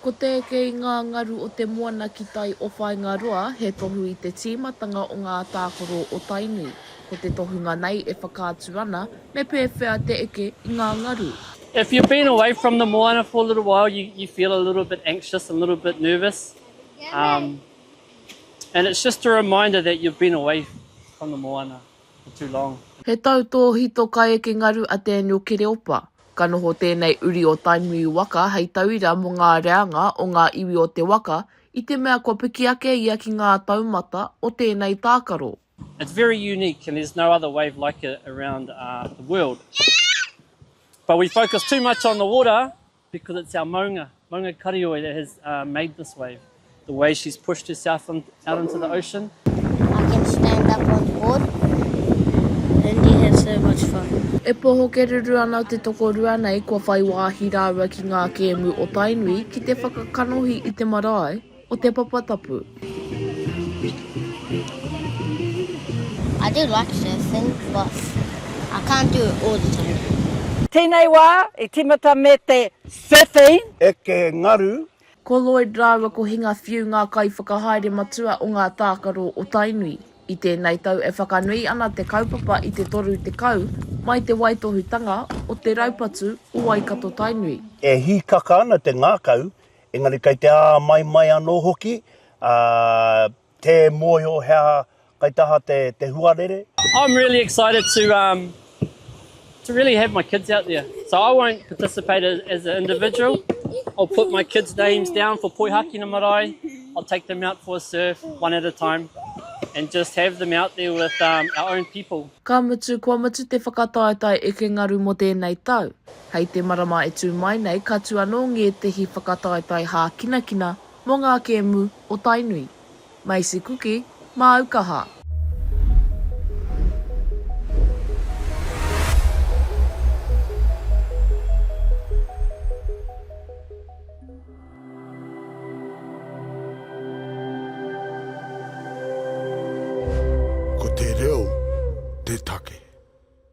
Ko te eke i ngā ngaru o te moana ki tai o Whāingaroa he tohu i te tīmatanga o ngā tākaro o Tainui. Ko te tohunga nei e whakaatu ana me pēwhea te eke i ngā ngaru. If you've been away from the moana for a little while you you feel a little bit anxious a little bit nervous um and it's just a reminder that you've been away from the moana for too long. He tautōhito ka eke ngaru a Daniel Kereopa. Ka noho tēnei uri o Tainui waka hei tauira mō ngā reanga o ngā iwi o te waka i te mea kua piki ake ia ki ngā taumata o tēnei tākaro. It's very unique and there's no other wave like it around the world but we focus too much on the water because it's our maunga. Maunga Karioi that has made this wave. The way she's pushed herself out into the ocean. I can stand up on board and you have so much fun. E poho kererū ana te tokorua nei kua whai wāhi rāua ki ngā kēmu o Tainui ki te whakakanohi i te marae. o Te Papa Tapu. I do like surfing but I can't do it all the time. Tēnei wā i tīmata me te surfing. Eke Ngaru. Ko Lloyd rāua ko Hinga Whiu ngā kaiwhakahaere matua o ngā tākaro o Tainui. I tēnei tau e whakanui ana te kaupapa i te 30 mai te waitohutanga o te raupatu o Waikato-Tainui. E hīkaka ana te ngākau Engari kei te āmaimai anō hoki, ā, tē mōhio he aha kai taha te, te huarere. I'm really excited to um to really have my kids out there. So I won't participate as as an individual. I'll put my kids names down for Poihakina Marae. I'll take them out for a surf, one at a time, and just have them out there with um our own people. Ka mutu, kua mutu te whakataetae eke ngaru mō tēnei tau. Hei te marama e tū mai nei ka tū anō ngētehi whakataetae hākinakina mō ngā kēmu o Tainui. Macy Kuki, Māu kaha. Ko te reo te take.